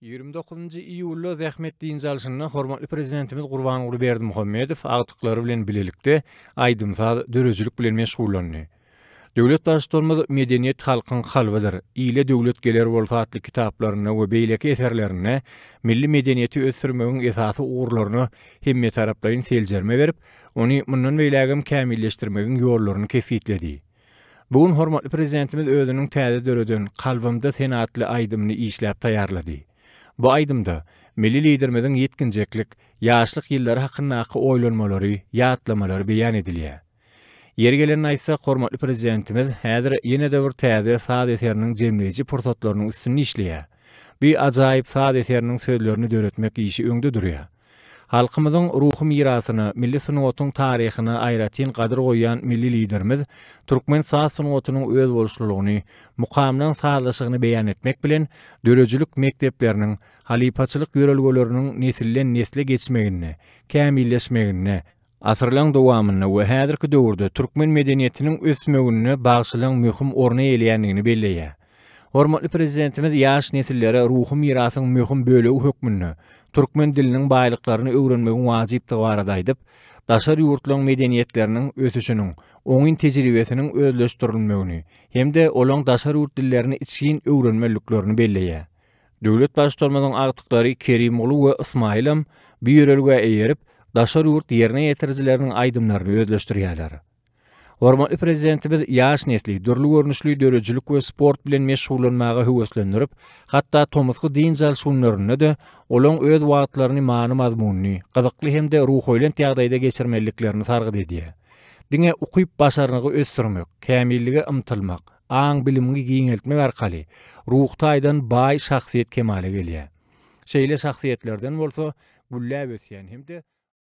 Ýigrimi dokuzynjy iýulda zähmet dynç alşynda hormatly Prezidentimiz Gurbanguly Berdimuhamedow agtyklary bilen bilelikde aýdym-saz, döredijilik bilen meşgullandy. Döwlet Baştutanymyz Medeniýet halkyň kalbydyr, Ile döwlet geler bolsa atly kitaplarynda we beýleki eserlerinde milli medeniýeti ösdürmegiň esasy ugurlaryna hemmetaraplaýyn seljerme berip, ony mundan beýlägem kämilleşdirmegiň ýollaryny kesgitledi. Bu gün hormatly Prezidentimiz özüniň täze döreden Kalbymda sen atly aýdymyny işläp taýýarlady. Bu aýdymda milli Liderimiziň ýetginjeklik, ýaşlyk ýyllary hakyndaky oýlanmalary, ýatlamalary beýan edilýär. Ýeri gelende aýtsak, hormatly Prezidentimiz häzir ýene-de bir täze saz eseriniň jemleýji pursatlarynyň üstünde işleýär. Bu ajaýyp saz eseriniň sözlerini döretmek işi öňde durýar. Halkymyzyň ruhy mirasyna, milli sungatyň taryhyna aýratyn gadyr goýýan milli Liderimiz türkmen saz sungatynyň özboluşlylygyny, mukamynyň sazlaşygyny beýan etmek bilen, döredijilik mekdepleriniň, halypaçylyk ýörelgeleriniň nesilden-nesle geçmeginde, kämilleşmeginde, Asyrlaryň dowamynda we häzirki döwürde türkmen medeniýetiniň ösmeginde bagşylygyň möhüm orny eýeleýändigini belleýär. Hormatly Prezidentimiz ýaş nesillere ruhy mirasyň möhüm bölegi hökmünde türkmen diliniň baýlyklaryny öwrenmegiň wajypdygy barada aýdyp, daşary ýurtlaryň medeniýetleriniň ösüşiniň oňyn tejribesiniň özleşdirilmegini hem-de olaryň daşary ýurt dillerini içgin öwrenmeliliklerini belleýär. Döwlet Baştutanymyzyň agtyklary Kerimguly we Ysmaýylam bu ýörelgä eýerip, daşary ýurt ýerine ýetirijileriniň aýdymlaryny özleşdirýärler. Hormatly Prezidentimiz ýaş nesli dürli görnüşli döredijilik we sport bilen meşgullanmaga höweslendirip, hatda tomusky dynç alyş günlerinde-de olaň öz wagtlaryny many-mazmunly, gyzykly hem-de ruhubelent ýagdaýda geçirmeliliklerini sargyt edýär. Diňe ukyp-başarnygy ösdürmek, kämillige ymtylmak, aň-bilimiňi giňeltmek arkaly ruhy taýdan baý şahsyýet kemala gelýär. Şeýle şahsyýetlerden bolsa gülläp ösýän hem-de.